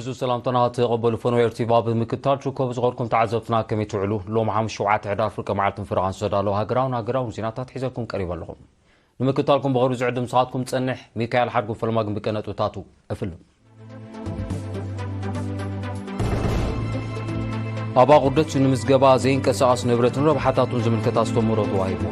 ዕዙዝ ሰላምታና ተቐበሉ ፈኖ ኤርቲቫ ብምክታል ሽኮብ ዝኸርኩም ተዓዘብትና ከመይ ትውዕሉ ሎም ሓሙስ ሸውዓተ ሕዳር ፍርቂ መዓልትን ፍረቓን ዝተዳለዉ ሃገራውን ሃገራውን ዜናታት ሒዘልኩም ቀሪበ ኣለኹም ንምክታልኩም ብኸሩ ዝዕድም ስኻትኩም ጸንሕ ሚካኤል ሓድጉ ፈለማ ግን ብቀነጥብታቱ እፍልም ኣብ ኣቑርደት ንምዝገባ ዘይንቀሳቐስ ንብረትን ረብሓታቱን ዝምልከት ኣስተምህሮ ተዋሂቡ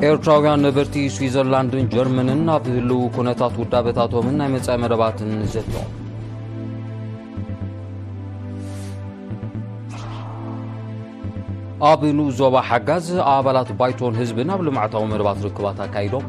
ኤርትራውያን ነበርቲ ስዊዘርላንድን ጀርመንን ኣብ ህልው ኩነታት ውዳበታቶምን ናይ መጻኢ መደባትን ዘቶ ኣብ ንኡስ ዞባ ሓጋዝ ኣባላት ባይቶን ህዝብን ኣብ ልምዓታዊ መደባት ርክባት ኣካይዶም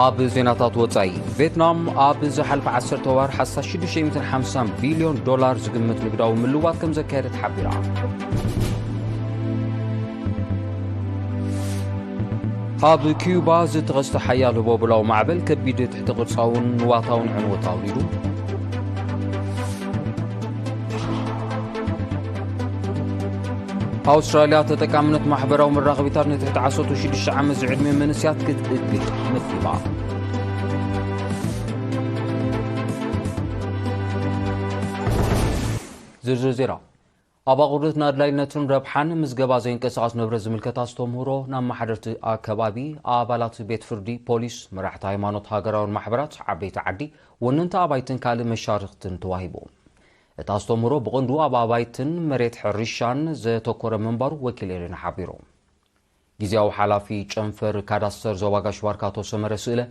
ኣብ ዜናታት ወፃኢ ቬትናም ኣብ ዝሓልፈ 10 ወር ሓሳብ 650 ቢልዮን ዶላር ዝግምት ንግዳዊ ምልዋት ከም ዘካየደት ሓቢራ ኣብ ኪዩባ ዝተኸስተ ሓያል ህቦብላዊ ማዕበል ከቢድ ትሕቲ ቅርጻውን ንዋታውን ዕንወት ኣውሪዱ ኣውስትራልያ ተጠቃምነት ማሕበራዊ መራኸቢታት ንትሕቲ 16 ዓመት ዝዕድሜ መንስያት ክትእግድ መኪባ ዝርዝር ዜና ኣብ ኣቑርድት ንኣድላይነቱን ረብሓን ምዝገባ ዘይንቀሳቐስ ንብረት ዝምልከት ኣስተምህሮ ንኣመሓደርቲ ኣከባቢ፣ ኣባላት ቤት ፍርዲ፣ ፖሊስ፣ መራሕቲ ሃይማኖት፣ ሃገራውያን ማሕበራት፣ ዓበይቲ ዓዲ፣ ወነንቲ ኣባይትን ካልእ መሻርኽትን ተዋሂቡ። እቲ ኣስተምህሮ ብቐንዱ ኣብ ኣባይትን መሬት ሕርሻን ዘተኮረ ምንባሩ ወኪል ኤሪና ሓቢሩ። ግዝያዊ ሓላፊ ጨንፈር ካዳስተር ዞባ ጋሽ ባርካ ኣቶ ሰመረ ስእለ፣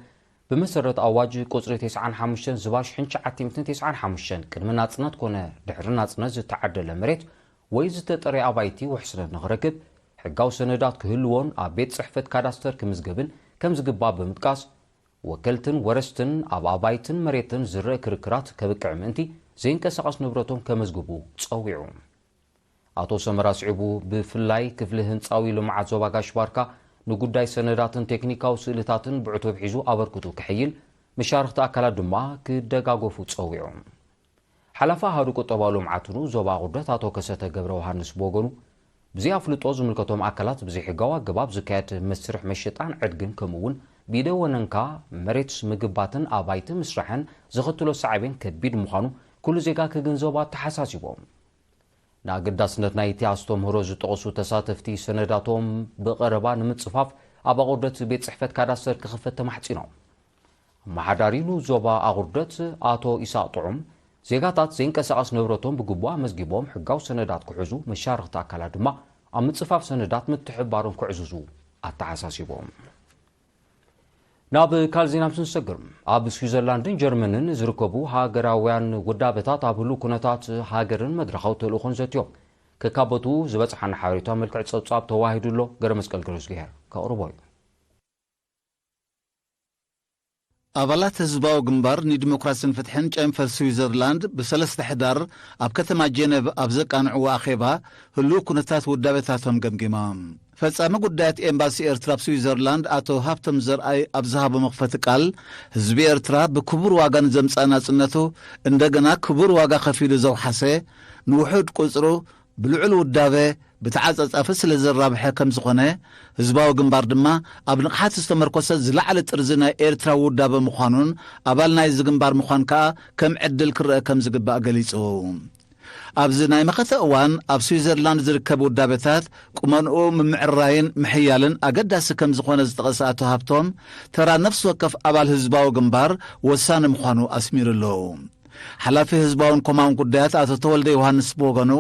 ብመሰረት ኣዋጅ ቁጽሪ ቴስዓን ሓሙሽተን ዝባሽ ሕንቸዓቲምትን ቴስዓን ሓሙሽተን ቅድሚ ናጽነት ኮነ ድሕሪ ናጽነት ዝተዓደለ መሬት ወይ ዝተጠርየ ኣባይቲ ውሕስነት ንኽረክብ ሕጋዊ ሰነዳት ክህልዎን ኣብ ቤት ጽሕፈት ካዳስተር ክምዝገብን ከምዝግባእ ብምጥቃስ ወከልትን ወረስትን ኣብ ኣባይትን መሬትን ዝረእ ክርክራት ከብቅዕ ምእንቲ ዘይንቀሳቐስ ንብረቶም ከመዝግቡ ጸዊዑ። ኣቶ ሰመረ ኣስዒቡ፣ ብፍላይ ክፍሊ ህንጻዊ ልምዓት ዞባ ጋሽ-ባርካ ንጉዳይ ሰነዳትን ቴክኒካዊ ስእልታትን ብዕቱብ ሒዙ ኣበርክቱ ከሐይል፣ መሻርኽቲ ኣካላት ድማ ክደጋገፉ ጸዊዑ። ሓላፊ ኣሃዱ ቁጠባዊ ልምዓት ን ዞባ ኣቑርደት ኣቶ ከሰተ ገብረውሃንስ ብወገኑ፣ ብዘይኣፍልጦ ዝምልከቶም ኣካላት ብዘይሕጋዊ ኣገባብ ዝካየድ መስርሕ መሸጣን ዕድግን ከምኡ'ውን ብኢደ ወነንካ መሬት ምግባትን ኣባይቲ ምስራሕን ዘኸትሎ ሳዕቤን ከቢድ ምዃኑ ኩሉ ዜጋ ክግንዘቦ ኣተሓሳሲቦም። ንኣገዳስነት ናይቲ ኣስተምህሮ ዝጠቐሱ ተሳተፍቲ ሰነዳቶም ብቐረባ ንምጽፋፍ ኣብ ኣቑርደት ቤት ጽሕፈት ካዳስተር ክኽፈት ተማሕጺኖም። ኣመሓዳሪ ንኡስ ዞባ ኣቑርደት ኣቶ ኢሳቕ ጥዑም፣ ዜጋታት ዘይንቀሳቐስ ንብረቶም ብግቡእ ኣመዝጊቦም ሕጋዊ ሰነዳት ክሕዙ፣ መሻርኽቲ ኣካላት ድማ ኣብ ምጽፋፍ ሰነዳት ምትሕብባሮም ከዕዝዙ ኣተሓሳሲቦም። ናብ ካልእ ዜና ምስ ንሰግር ኣብ ስዊዘርላንድን ጀርመንን ዝርከቡ ሃገራውያን ውዳበታት ኣብ ህሉ ኩነታት ሃገርን መድረኻዊ ተልእኾን ዘትዮም ከካበቱ ዝበፅሓና ሓበሬታ መልክዕ ፀብፃብ ተዋሂዱ ኣሎ ገረ መስቀል ገረዝግሄር ከቕርቦ እዩ ኣባላት ህዝባዊ ግንባር ንዲሞክራስን ፍትሕን ጨንፈር ስዊዘርላንድ ብሰለስተ ሕዳር ኣብ ከተማ ጀነቭ ኣብ ዘቃንዕዎ ኣኼባ ህሉው ኩነታት ውዳበታቶም ገምጊሞም። ፈጻሚ ጉዳያት ኤምባሲ ኤርትራ ኣብ ስዊዘርላንድ ኣቶ ሃብቶም ዘርኣይ ኣብ ዝሃቦ መኽፈቲ ቃል ህዝቢ ኤርትራ ብክቡር ዋጋ ንዘምጽኣ ናጽነቱ እንደገና ክቡር ዋጋ ከፊሉ ዘውሓሰ ንውሑድ ቁጽሩ ብልዑል ውዳበ ብተዓጻጻፊ ስለ ዘራብሐ ከም ዝኾነ፣ ህዝባዊ ግንባር ድማ ኣብ ንቕሓት ዝተመርኮሰ ዝለዓለ ጥርዚ ናይ ኤርትራዊ ውዳበ ምዃኑን ኣባል ናይዚ ግንባር ምዃን ከኣ ከም ዕድል ክረኣ ከም ዝግባእ ገሊጹ። ኣብዚ ናይ መኸተ እዋን ኣብ ስዊዘርላንድ ዝርከብ ውዳበታት ቁመንኡ ምምዕርራይን ምሕያልን ኣገዳሲ ከም ዝኾነ ዝጠቐሰ ኣቶ ሃብቶም፣ ተራ ነፍሲ ወከፍ ኣባል ህዝባዊ ግንባር ወሳኒ ምዃኑ ኣስሚሩሉ። ሓላፊ ህዝባውን ኮማውን ጉዳያት ኣቶ ተወልደ ዮሃንስ ብወገኑ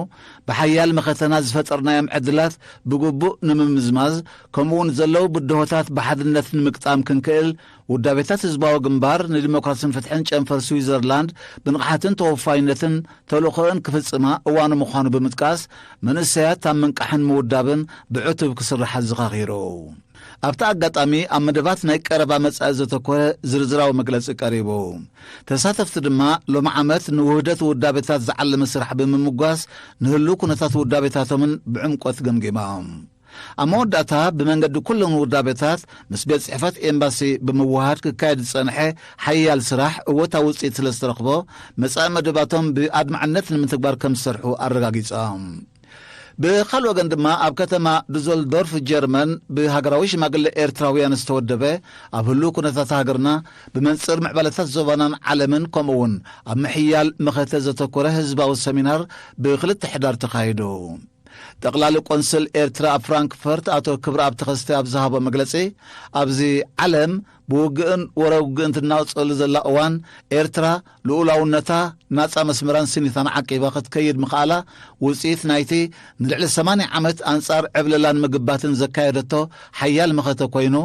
ብሓያል መኸተና ዝፈጠርናዮም ዕድላት ብግቡእ ንምምዝማዝ ከምኡውን ዘለው ብድሆታት ብሓድነት ንምግጣም ክንክእል ውዳቤታት ህዝባዊ ግንባር ንዲሞክራሲን ፍትሕን ጨንፈር ስዊዘርላንድ ብንቕሓትን ተወፋይነትን ተልእኾእን ክፍጽማ እዋኑ ምዃኑ ብምጥቃስ መንእሰያት ኣብ ምንቃሕን ምውዳብን ብዕቱብ ክስራሕ ኣዘኻኺሩ። ኣብቲ ኣጋጣሚ ኣብ መደባት ናይ ቀረባ መጻኢ ዘተኮረ ዝርዝራዊ መግለጺ ቀሪቡ ተሳተፍቲ ድማ ሎሚ ዓመት ንውህደት ውዳቤታት ዝዓለመ ስራሕ ብምምጓስ ንህሉ ኩነታት ውዳቤታቶምን ብዕምቆት ገምጊሞም ኣብ መወዳእታ ብመንገዲ ኩሎም ውዳቤታት ምስ ቤት ጽሕፈት ኤምባሲ ብምውሃድ ክካየድ ዝጸንሐ ሓያል ስራሕ እወታዊ ውፅኢት ስለ ዝተረኽቦ መጻኢ መደባቶም ብኣድማዕነት ንምትግባር ከም ዝሰርሑ ኣረጋጊጾም ብኻልእ ወገን ድማ ኣብ ከተማ ዱዘልዶርፍ ጀርመን ብሃገራዊ ሽማግለ ኤርትራውያን ዝተወደበ ኣብ ህሉው ኩነታት ሃገርና ብመንጽር ምዕባለታት ዞባናን ዓለምን ከምኡ እውን ኣብ ምሕያል መኸተ ዘተኮረ ህዝባዊ ሰሚናር ብክልተ ሕዳር ተኻይዱ። ጠቕላሊ ቆንስል ኤርትራ ኣብ ፍራንክፈርት ኣቶ ክብረኣብ ተኸስተ ኣብ ዝሃቦ መግለጺ ኣብዚ ዓለም ብውግእን ወረ ውግእን ትናወጸሉ ዘላ እዋን ኤርትራ ልኡላውነታ፣ ናጻ መስመራን ስኒታን ዓቂባ ክትከይድ ምኽኣላ ውጽኢት ናይቲ ንልዕሊ ሰማንያ ዓመት ኣንጻር ዕብለላን ምግባትን ዘካየደቶ ሓያል መኸተ ኮይኑ፣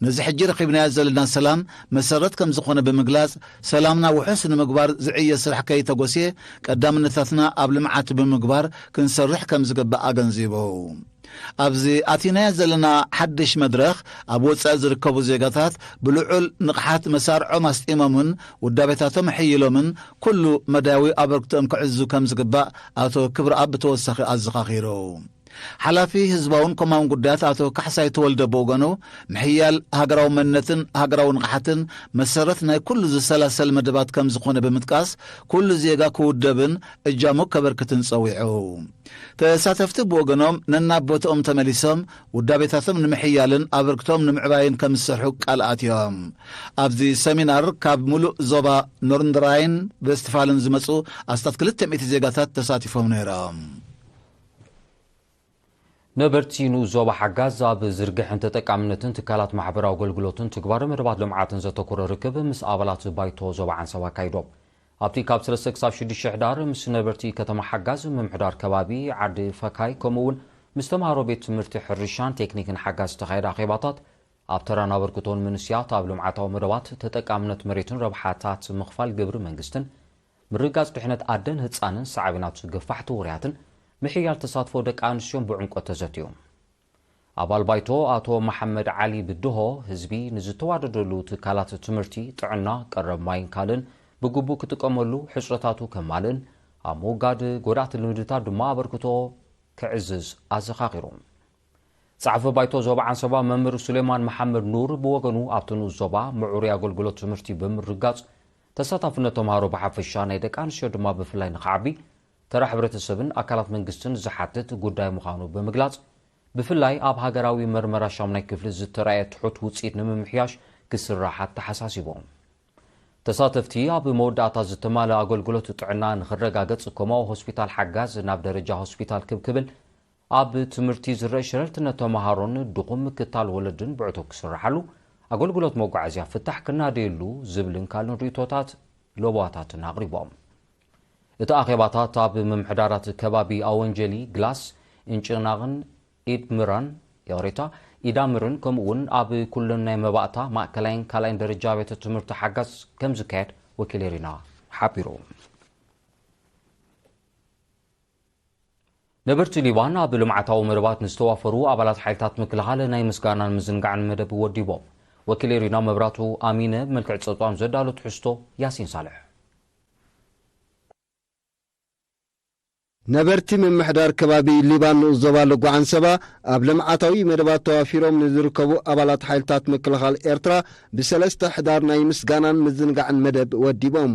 ነዚ ሕጂ ረኺብናዮ ዘለና ሰላም መሰረት ከም ዝኾነ ብምግላጽ፣ ሰላምና ውሑስ ንምግባር ዝዕየ ስራሕ ከይተጎስየ ቀዳምነታትና ኣብ ልምዓት ብምግባር ክንሰርሕ ከም ዝግባእ ኣገንዚቡ። ኣብዚ ኣቲናዮ ዘለና ሓድሽ መድረኽ፣ ኣብ ወጻኢ ዝርከቡ ዜጋታት ብልዑል ንቕሓት መሳርዖም ኣስጢሞምን ውዳቤታቶም ኣሐይሎምን ኩሉ መዳያዊ ኣበርክቶኦም ክዕዝዙ ከም ዝግባእ ኣቶ ክብረኣብ ብተወሳኺ ኣዘኻኺሩ። ሓላፊ ህዝባውን ኮማውን ጉዳያት ኣቶ ካሕሳይ ተወልደ ብወገኑ፣ ምሕያል ሃገራዊ መንነትን ሃገራዊ ንቕሓትን መሰረት ናይ ኩሉ ዝሰላሰል መደባት ከም ዝኾነ ብምጥቃስ፣ ኩሉ ዜጋ ክውደብን እጃሙ ከበርክትን ጸዊዑ። ተሳተፍቲ ብወገኖም ነናብ ቦትኦም ተመሊሶም ውዳቤታቶም ንምሕያልን ኣበርክቶም ንምዕባይን ከም ዝሰርሑ ቃል ኣትዮም። ኣብዚ ሰሚናር ካብ ምሉእ ዞባ ኖርንድራይን ቨስትፋልን ዝመጹ ኣስታት ክልተ ሚእቲ ዜጋታት ተሳቲፎም ነይሮም። ነበርቲ ንኡስ ዞባ ሓጋዝ ኣብ ዝርግሐን ተጠቃምነትን ትካላት ማሕበራዊ ኣገልግሎትን ትግባረ መደባት ልምዓትን ዘተኮረ ርክብ ምስ ኣባላት ባይቶ ዞባ ዓንሰባ ኣካይዶም። ኣብቲ ካብ ሰለስተ ክሳብ ሽዱሽተ ሕዳር ምስ ነበርቲ ከተማ ሓጋዝ፣ ምምሕዳር ከባቢ ዓዲ ፈካይ ከምኡ'ውን ምስ ተምሃሮ ቤት ትምህርቲ ሕርሻን ቴክኒክን ሓጋዝ ዝተኻየደ ኣኼባታት ኣብ ተራን ኣበርክቶን መንስያት ኣብ ልምዓታዊ መደባት ተጠቃምነት መሬትን ረብሓታት ምኽፋል ግብሪ መንግስትን ምርግጋፅ ድሕነት ኣደን ህፃንን ሳዕቤናቱ ገፋሕቲ ውርያትን ምሕያል ተሳትፎ ደቂ ኣንስትዮን ብዕምቆት ተዘትዩ። ኣባል ባይቶ ኣቶ መሓመድ ዓሊ ብድሆ ህዝቢ ንዝተዋደደሉ ትካላት ትምህርቲ፣ ጥዕና፣ ቀረብ ማይን ካልእን ብግቡእ ክጥቀመሉ፣ ሕፅረታቱ ከማልእን ኣብ ምውጋድ ጎዳእቲ ልምድታት ድማ ኣበርክቶ ከዕዝዝ ኣዘኻኺሩ። ፀሓፊ ባይቶ ዞባ ዓንሰባ መምህር ሱሌማን መሓመድ ኑር ብወገኑ ኣብቲ ንኡስ ዞባ ምዕሩይ ኣገልግሎት ትምህርቲ ብምርግጋፅ ተሳታፍነት ተምሃሮ ብሓፈሻ ናይ ደቂ ኣንስትዮ ድማ ብፍላይ ንክዓቢ ተራ ሕብረተሰብን ኣካላት መንግስትን ዝሓትት ጉዳይ ምዃኑ ብምግላፅ፣ ብፍላይ ኣብ ሃገራዊ መርመራ ሻሙናይ ክፍሊ ዝተራእየ ትሑት ውፅኢት ንምምሕያሽ ክስራሕ ኣተሓሳሲቦም። ተሳተፍቲ ኣብ መወዳእታ ዝተማልእ ኣገልግሎት ጥዕና ንኽረጋገፅ ኮማኡ ሆስፒታል ሓጋዝ ናብ ደረጃ ሆስፒታል ክብ ክብል ኣብ ትምህርቲ ዝረእ ሸለልትነት ተምሃሮን ድኹም ምክታል ወለድን ብዕቱብ ክስራሓሉ ኣገልግሎት መጓዓዝያ ፍታሕ ክናደየሉ ዝብልን ካልእን ርእቶታት ለበዋታትን ኣቕሪቦም። እቲ ኣኼባታት ኣብ ምምሕዳራት ከባቢ ኣወንጀሊ፣ ግላስ፣ እንጭናቕን ኢድምራን ይቕሬታ፣ ኢዳምርን ከምኡ'ውን ኣብ ኩለን ናይ መባእታ፣ ማእከላይን ካልኣይን ደረጃ ኣብያተ ትምህርቲ ሓጋዝ ከም ዝካየድ ወኪል ኤሪና ሓቢሩ። ነበርቲ ሊባን ኣብ ልምዓታዊ መደባት ንዝተዋፈሩ ኣባላት ሓይልታት ምክልኻል ናይ ምስጋናን ምዝንጋዕን መደብ ወዲቦም። ወኪል ኤሪና መብራቱ ኣሚነ ብመልክዕ ጸብጻብ ዘዳሎ ትሕዝቶ ያሲን ሳልሕ ነበርቲ ምምሕዳር ከባቢ ሊባን ንኡስ ዞባ ልጓዓንሰባ ኣብ ልምዓታዊ መደባት ተዋፊሮም ንዝርከቡ ኣባላት ሓይልታት ምክልኻል ኤርትራ ብሰለስተ ሕዳር ናይ ምስጋናን ምዝንጋዕን መደብ ወዲቦም።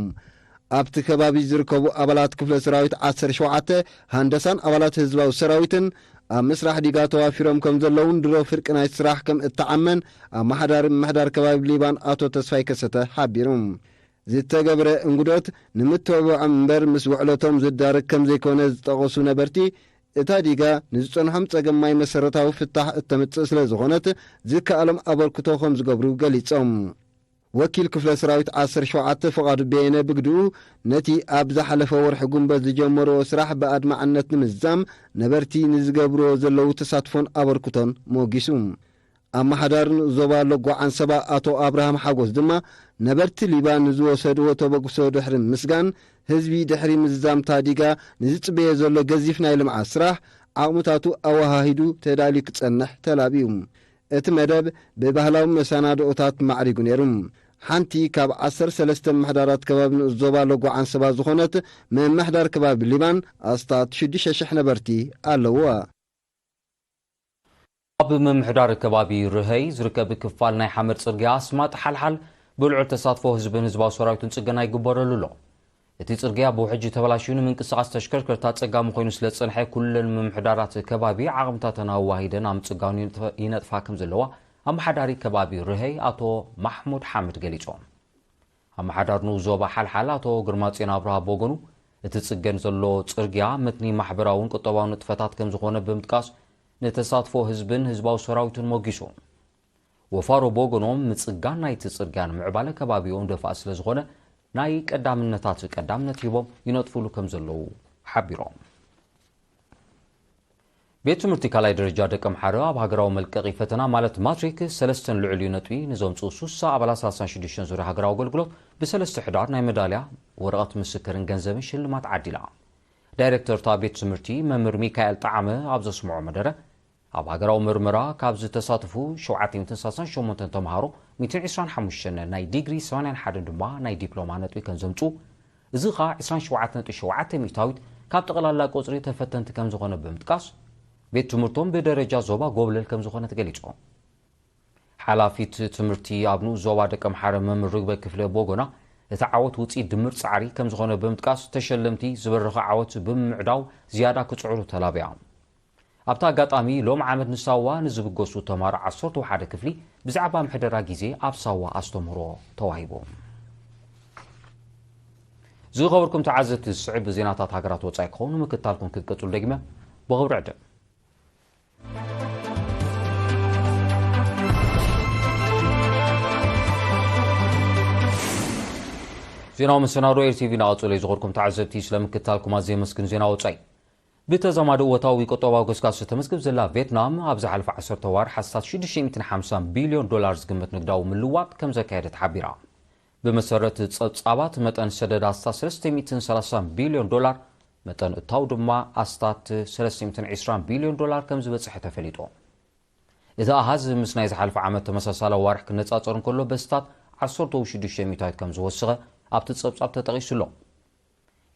ኣብቲ ከባቢ ዝርከቡ ኣባላት ክፍለ ሰራዊት ዓሰርተ ሸውዓተ ሃንደሳን ኣባላት ህዝባዊ ሰራዊትን ኣብ ምስራሕ ዲጋ ተዋፊሮም ከም ዘለውን ድሮ ፍርቂ ናይ ስራሕ ከም እተዓመን ኣመሓዳሪ ምምሕዳር ከባቢ ሊባን ኣቶ ተስፋይ ከሰተ ሓቢሩ። ዝተገብረ እንግዶት ንምትብባዖም እምበር ምስ ውዕለቶም ዝዳረግ ከምዘይኮነ ዝጠቐሱ ነበርቲ፣ እታ ዲጋ ንዝጸንሖም ጸገም ማይ መሰረታዊ ፍታሕ እተምጽእ ስለዝኾነት ዝከኣሎም ኣበርክቶ ከምዝገብሩ ገሊጾም። ወኪል ክፍለ ሰራዊት ዓሰርተ ሸውዓተ ፍቓዱ በየነ ብግድኡ፣ ነቲ ኣብ ዝሓለፈ ወርሒ ጉንበት ዝጀመርዎ ስራሕ ብኣድማዕነት ንምዝዛም ነበርቲ ንዝገብርዎ ዘለዉ ተሳትፎን ኣበርክቶን ሞጊሱ። ኣመሓዳሪ ንኡስ ዞባ ሎጎ ዓንሰባ ኣቶ ኣብርሃም ሓጎስ ድማ ነበርቲ ሊባ ንዝወሰድዎ ተበግሶ ድሕሪ ምምስጋን፣ ህዝቢ ድሕሪ ምዝዛምታ ዲጋ ንዝጽበዮ ዘሎ ገዚፍ ናይ ልምዓት ስራሕ ዓቕምታቱ ኣወሃሂዱ ተዳልዩ ክጸንሕ ተላብዩ። እቲ መደብ ብባህላዊ መሰናድኦታት ማዕሪጉ ነይሩ። ሓንቲ ካብ ዓሰርተ ሰለስተ ምምሕዳራት ከባቢ ንኡስ ዞባ ሎጎ ዓንሰባ ዝኾነት ምምሕዳር ከባቢ ሊባን ኣስታት ሽዱሽተ ሽሕ ነበርቲ ኣለዉዋ። ኣብ ምምሕዳር ከባቢ ርሀይ ዝርከብ ክፋል ናይ ሓመድ ጽርግያ ኣስማጥ ሓልሓል ብልዑል ተሳትፎ ህዝብን ህዝባዊ ሰራዊትን ጽገና ይግበረሉ ኣሎ። እቲ ጽርግያ ብውሕጅ ተበላሽዩ ንምንቅስቓስ ተሽከርከርቲ ኣጸጋሚ ኮይኑ ስለ ዝጸንሐ ኩለን ምምሕዳራት ከባቢ ዓቕምታተን ኣዋሂደን ኣብ ምጽጋኑ ይነጥፋ ከም ዘለዋ ኣመሓዳሪ ከባቢ ርሀይ ኣቶ ማሕሙድ ሓምድ ገሊጾም። ኣመሓዳር ንኡስ ዞባ ሓልሓል ኣቶ ግርማጽዮን ኣብርሃ ብወገኑ፣ እቲ ዝጽገን ዘሎ ጽርግያ መትኒ ማሕበራውን ቁጠባውን ንጥፈታት ከምዝኾነ ብምጥቃስ፣ ንተሳትፎ ህዝብን ህዝባዊ ሰራዊቱን ሞጊሱ። ወፋሮ ብወገኖም፣ ምጽጋን ናይቲ ጽርግያ ንምዕባለ ከባቢኦም ደፋእ ስለዝኾነ ናይ ቀዳምነታት ቀዳምነት ሂቦም ይነጥፉሉ ከምዘለዉ ሓቢሮም። ቤት ትምህርቲ ካልኣይ ደረጃ ደቀምሓረ ኣብ ሃገራዊ መልቀቒ ፈተና ማለት ማትሪክ ሰለስተን ልዑል ነጥቢ ንዘምፅኡ ሱሳ ኣባላት ሰላሳን ሽዱሽተን ዙርያ ሃገራዊ ኣገልግሎት ብሰለስተ ሕዳር ናይ መዳልያ፣ ወረቐት ምስክርን ገንዘብን ሽልማት ዓዲላ። ዳይሬክተር እታ ቤት ትምህርቲ መምህር ሚካኤል ጠዓመ ኣብ ዘስምዖ መደረ፣ ኣብ ሃገራዊ ምርመራ ካብ ዝተሳተፉ ሸውዓተ ሚእትን ሰላሳን ሸሞንተን ተምሃሮ ሚእትን ዒስራን ሓሙሽተን ናይ ዲግሪ ሰማንያን ሓደን ድማ ናይ ዲፕሎማ ነጥቢ ከምዘምፅኡ እዚ ከኣ ዕስራን ሸውዓተ ነጥቢ ሸውዓተ ሚእታዊት ካብ ጠቕላላ ቁጽሪ ተፈተንቲ ከምዝኾነ ብምጥቃስ፣ ቤት ትምህርቶም ብደረጃ ዞባ ጎብለል ከምዝኾነት ገሊጾም። ሓላፊት ትምህርቲ ኣብ ንኡስ ዞባ ደቀምሓረ መም ርግበ ክፍለ ብወገና፣ እቲ ዓወት ውጽኢት ድምር ጻዕሪ ከምዝኾነ ብምጥቃስ፣ ተሸለምቲ ዝበረኸ ዓወት ብምምዕዳው ዝያዳ ክጽዕሩ ተላብያ። ኣብቲ ኣጋጣሚ፣ ሎም ዓመት ንሳዋ ንዝብገሱ ተማሮ ዓሰርተው ሓደ ክፍሊ ብዛዕባ ምሕደራ ግዜ ኣብ ሳዋ ኣስተምህሮ ተዋሂቦም። ዝኸበርኩም ተዓዘብቲ፣ ዝስዕብ ዜናታት ሃገራት ወጻኢ ክኸውን ምክትታልኩም ክትቅጽሉ ደጊመ ብኽብሪ ዕድም። ዜናዊ መሰናዶ ኤርቲቪ ናቐጽሎ እዩ። ዝኸበርኩም ተዓዘብቲ፣ ስለምክትታልኩም ኣዝየ የመስግን። ዜና ወጻኢ ብተዛማዲ እወታዊ ቁጠባዊ ገስጋስ እተመዝግብ ዘላ ቬትናም፣ ኣብ ዝሓለፈ ዓሰርተ ኣዋርሕ ኣስታት ሽዱሽተ ሚእትን ሓምሳን ቢልዮን ዶላር ዝግመት ንግዳዊ ምልዋጥ ከም ዘካየደት ሓቢራ። ብመሰረት ጸብጻባት፣ መጠን ሰደድ ኣስታት ሰለስተ ሚእትን ሰላሳን ቢልዮን ዶላር፣ መጠን እታው ድማ ኣስታት ሰለስተ ሚእትን ዕስራን ቢልዮን ዶላር ከም ዝበጽሐ ተፈሊጡ። እቲ ኣሃዝ ምስ ናይ ዝሓለፈ ዓመት ተመሳሳሊ ኣዋርሕ ክነጻጸር እንከሎ በስታት ዓሰርተው ሽዱሽተ ሚእታዊት ከም ዝወሰኸ ኣብቲ ጸብጻብ ተጠቒሱ ኣሎ።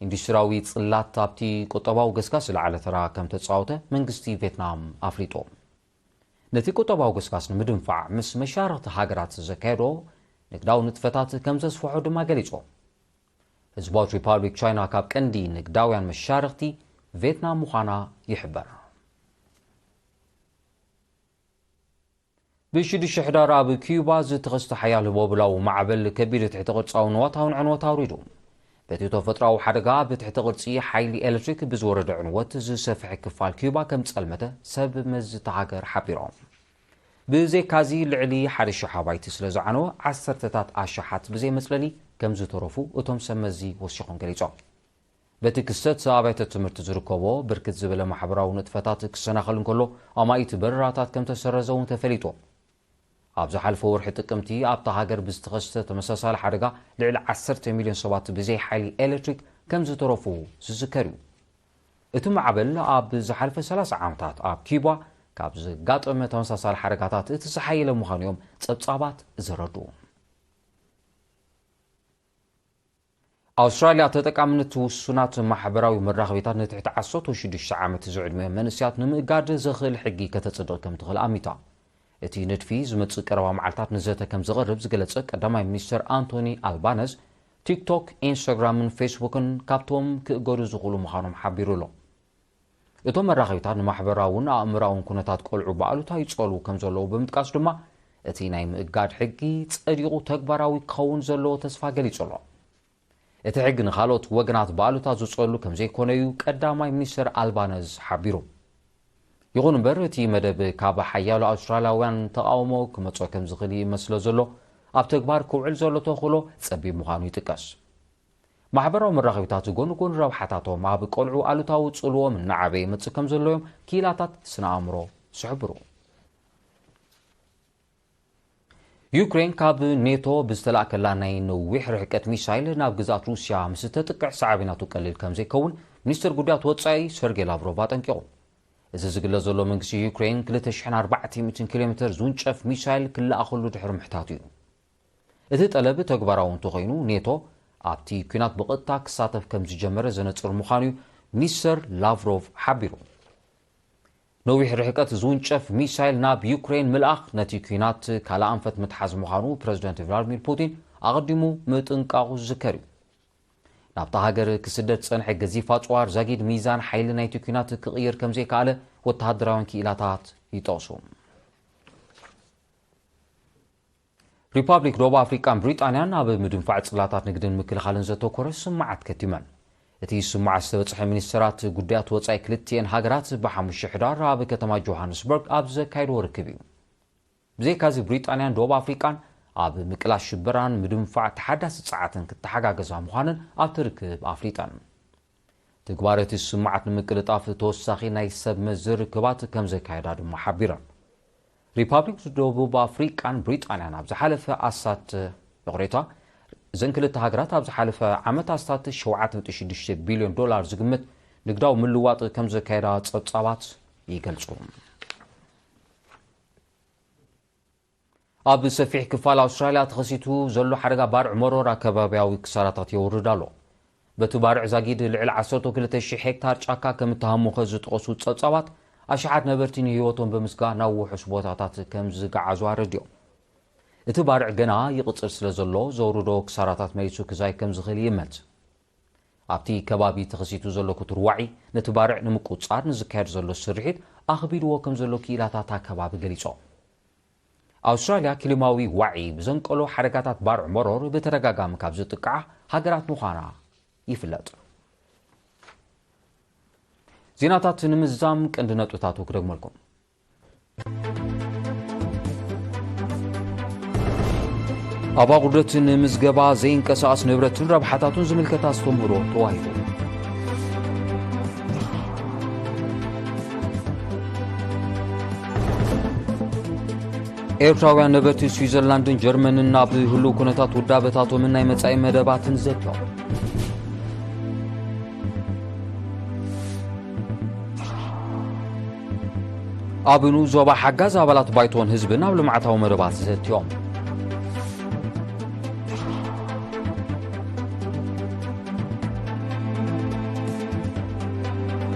ኢንዱስትሪያዊ ጽላት ኣብቲ ቁጠባዊ ገስጋስ ዝለዓለ ተራ ከም ተጻወተ መንግስቲ ቬትናም ኣፍሊጡ። ነቲ ቁጠባዊ ገስጋስ ንምድንፋዕ ምስ መሻርኽቲ ሃገራት ዘካየዶ ንግዳዊ ንጥፈታት ከም ዘስፍሖ ድማ ገሊጹ። ህዝባዊት ሪፓብሊክ ቻይና ካብ ቀንዲ ንግዳውያን መሻርኽቲ ቬትናም ምዃና ይሕበር። ብሽዱሽተ ሕዳር ኣብ ኪዩባ ዝተኸስተ ሓያል ህቦብላዊ ማዕበል ከቢድ ትሕተ ቅርጻዊ ንዋታውን ዕንወት ኣውሪዱ። በቲ ተፈጥሮኣዊ ሓደጋ ኣብ ትሕተ ቅርጺ ሓይሊ ኤሌክትሪክ ብዝወረደ ዕንወት ዝሰፍሐ ክፋል ኪዩባ ከም ዝጸልመተ ሰብ መዚ እታ ሃገር ሓቢሮም። ብዘይካዚ ልዕሊ ሓደ ሽሕ ኣባይቲ ስለ ዝዓነወ ዓሰርተታት ኣሽሓት ብዘይ መጽለሊ ከም ዝተረፉ እቶም ሰብ መዚ ወሲኾም ገሊጾም። በቲ ክስተት ኣብ ኣብያተ ትምህርቲ ዝርከቦ ብርክት ዝበለ ማሕበራዊ ንጥፈታት ክሰናኸል እንከሎ ኣማኢት በረራታት ከምተሰረዘ እውን ተፈሊጡ። ኣብ ዝሓልፈ ወርሒ ጥቅምቲ ኣብታ ሃገር ብዝተኸስተ ተመሳሳሊ ሓደጋ ልዕሊ ዓሰርተ ሚልዮን ሰባት ብዘይ ሓይሊ ኤሌክትሪክ ከምዝተረፉ ዝዝከር እዩ። እቲ ማዕበል ኣብ ዝሓልፈ ሰላሳ ዓመታት ኣብ ኪዩባ ካብ ዘጋጠመ ተመሳሳሊ ሓደጋታት እቲ ዝሓየለ ምዃኑ እዮም ጸብጻባት ዘረድኡ። ኣውስትራልያ ተጠቃምነት ውሱናት ማሕበራዊ መራኸቢታት ንትሕቲ ዓሰርተ ሽዱሽተ ዓመት ዝዕድሚኦም መንእሰያት ንምእጋድ ዘኽእል ሕጊ ከተጽድቕ ከም ትኽእል ኣሚታ። እቲ ንድፊ ዝመጽእ ቀረባ መዓልታት ንዘተ ከም ዝቐርብ ዝገለጸ ቀዳማይ ሚኒስተር ኣንቶኒ ኣልባነዝ፣ ቲክቶክ፣ ኢንስታግራምን ፌስቡክን ካብቶም ክእገዱ ዝኽእሉ ምዃኖም ሓቢሩ ኣሎ። እቶም መራኸቢታት ንማሕበራውን ኣእምራውን ኩነታት ቆልዑ ብኣሉታ ይጸልዉ ከም ዘለዉ ብምጥቃስ ድማ እቲ ናይ ምእጋድ ሕጊ ጸዲቑ ተግባራዊ ክኸውን ዘለዎ ተስፋ ገሊጹ ኣሎ። እቲ ሕጊ ንኻልኦት ወገናት ብኣሉታ ዝጸሉ ከም ዘይኮነ እዩ ቀዳማይ ሚኒስተር ኣልባነዝ ሓቢሩ። ይኹን እምበር እቲ መደብ ካብ ሓያሎ ኣውስትራልያውያን ተቓውሞ ክመጾ ከም ዝኽእል ይእመት ስለ ዘሎ ኣብ ተግባር ክውዕል ዘሎ ተኽእሎ ጸቢብ ምዃኑ ይጥቀስ። ማሕበራዊ መራኸቢታት ጎኒ ጎኒ ረብሓታቶም ኣብ ቆልዑ ኣሉታዊ ጽልዎም እናዓበየ ይመጽእ ከም ዘሎ'ዮም ክኢላታት ስነ ኣእምሮ ዝሕብሩ። ዩክሬን ካብ ኔቶ ብዝተላእከላ ናይ ነዊሕ ርሕቀት ሚሳይል ናብ ግዝኣት ሩስያ ምስ እተጥቅዕ ሰዓቢ ናቱ ቀሊል ከም ዘይከውን ሚኒስተር ጉዳያት ወጻኢ ሰርጌ ላቭሮቭ ኣጠንቂቑ። እዚ ዝግለ ዘሎ መንግስቲ ዩክሬን 2,400 ኪሎ ሜተር ዝውንጨፍ ሚሳይል ክለኣኸሉ ድሕሪ ምሕታቱ እዩ። እቲ ጠለብ ተግባራዊ እንተኾይኑ ኔቶ ኣብቲ ኲናት ብቐጥታ ክሳተፍ ከምዝጀመረ ዘነጽር ምዃኑ'ዩ ሚኒስተር ላቭሮቭ ሓቢሩ። ነዊሕ ርሕቀት ዝውንጨፍ ሚሳይል ናብ ዩክረይን ምልኣኽ ነቲ ኲናት ካልእ ኣንፈት ምትሓዝ ምዃኑ ፕረዚደንት ቭላድሚር ፑቲን ኣቐዲሙ ምጥንቃቑ ዝዝከር እዩ። ናብታ ሃገር ክስደድ ዝጸንሐ ገዚፍ ኣጽዋር ዛጊድ ሚዛን ሓይሊ ናይቲ ኲናት ክቕይር ከምዘይከኣለ ወተሃደራውያን ክኢላታት ይጠቕሱ። ሪፓብሊክ ደቡብ ኣፍሪቃን ብሪጣንያን ኣብ ምድንፋዕ ጽላታት ንግድን ምክልኻልን ዘተኮረ ስምምዓት ከቲመን። እቲ ስምምዓት ዝተበጽሐ ሚኒስተራት ጉዳያት ወጻኢ ክልቲኤን ሃገራት ብሓሙሽተ ሕዳር ኣብ ከተማ ጆሃንስበርግ ኣብ ዘካየድዎ ርክብ እዩ። ብዘይካዚ ብሪጣንያን ደቡብ ኣፍሪቃን ኣብ ምቅላስ ሽበራን ምድንፋዕ ተሓዳሲ ጸዓትን ክተሓጋገዛ ምዃነን ኣብቲ ርክብ ኣፍሊጠን። ትግባረ እቲ ስምምዓት ንምቅልጣፍ ተወሳኺ ናይ ሰብ መዚ ርክባት ከምዘካየዳ ድማ ሓቢረን። ሪፓብሊክ ደቡብ ኣፍሪቃን ብሪጣንያን ኣብ ዝሓለፈ ኣስታት ይቕሬታ እዘን ክልተ ሃገራት ኣብ ዝሓለፈ ዓመት ኣስታት 7.6 ቢልዮን ዶላር ዝግመት ንግዳዊ ምልዋጥ ከምዘካየዳ ጸብጻባት ይገልጹ። ኣብ ሰፊሕ ክፋል ኣውስትራልያ ተኸሲቱ ዘሎ ሓደጋ ባርዕ መሮራ ከባብያዊ ክሳራታት የውርድ ኣሎ። በቲ ባርዕ ዛጊድ ልዕሊ ዓሰርተው ክልተ ሽሕ ሄክታር ጫካ ከም እተሃሞኸ ዝጠቐሱ ጸብጻባት፣ ኣሽሓት ነበርቲ ንህይወቶም ብምስጋእ ናብ ውሑስ ቦታታት ከም ዝገዓዙ ኣረዲኦም። እቲ ባርዕ ገና ይቕጽል ስለ ዘሎ ዘውርዶ ክሳራታት መሊሱ ክዛይ ከም ዝኽእል ይእመት። ኣብቲ ከባቢ ተኸሲቱ ዘሎ ክቱር ዋዒ፣ ነቲ ባርዕ ንምቁጽጻር ንዝካየድ ዘሎ ስርሒት ኣኽቢድዎ ከምዘሎ ክኢላታት እታ ከባቢ ገሊጾም። ኣውስትራልያ ክሊማዊ ዋዒ ብዘንቀሎ ሓደጋታት ባርዕ መሮር ብተደጋጋሚ ካብ ዝጥቅዓ ሃገራት ምዃና ይፍለጥ። ዜናታት ንምዝዛም ቀንዲ ነጥብታቱ ክደግመልኩም። ኣብ ኣቑርደት ንምዝገባ ዘይንቀሳቐስ ንብረትን ረብሓታቱን ዝምልከት ኣስተምህሮ ተዋሂቡ ኤርትራውያን ነበርቲ ስዊዘርላንድን ጀርመንን ናብ ህሉው ኩነታት ውዳበታቶምን ናይ መጻኢ መደባትን ዘትዮ ኣብኑ ዞባ ሓጋዝ ኣባላት ባይቶን ህዝብን ኣብ ልምዓታዊ መደባት ዘትዮም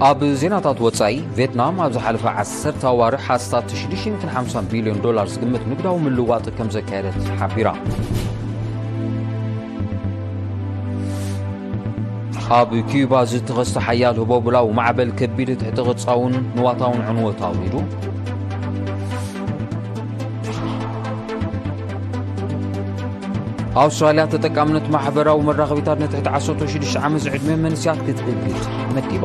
ኣብ ዜናታት ወፃኢ ቬትናም ኣብ ዝሓለፈ ዓሰርተ ኣዋርሕ ኣስታት 650 ቢልዮን ዶላር ዝግምት ንግዳዊ ምልዋጥ ከም ዘካየደት ሓቢራ ኣብ ኪዩባ ዝተኸስተ ሓያል ህቦብላዊ ማዕበል ከቢድ ትሕቲ ቅርጻውን ንዋታውን ዕንወት ኣውሪዱ ኣውስትራልያ ተጠቃምነት ማሕበራዊ መራኸቢታት ንትሕቲ 16 ዓመት ዝዕድመ መንስያት ክትእግድ መዲባ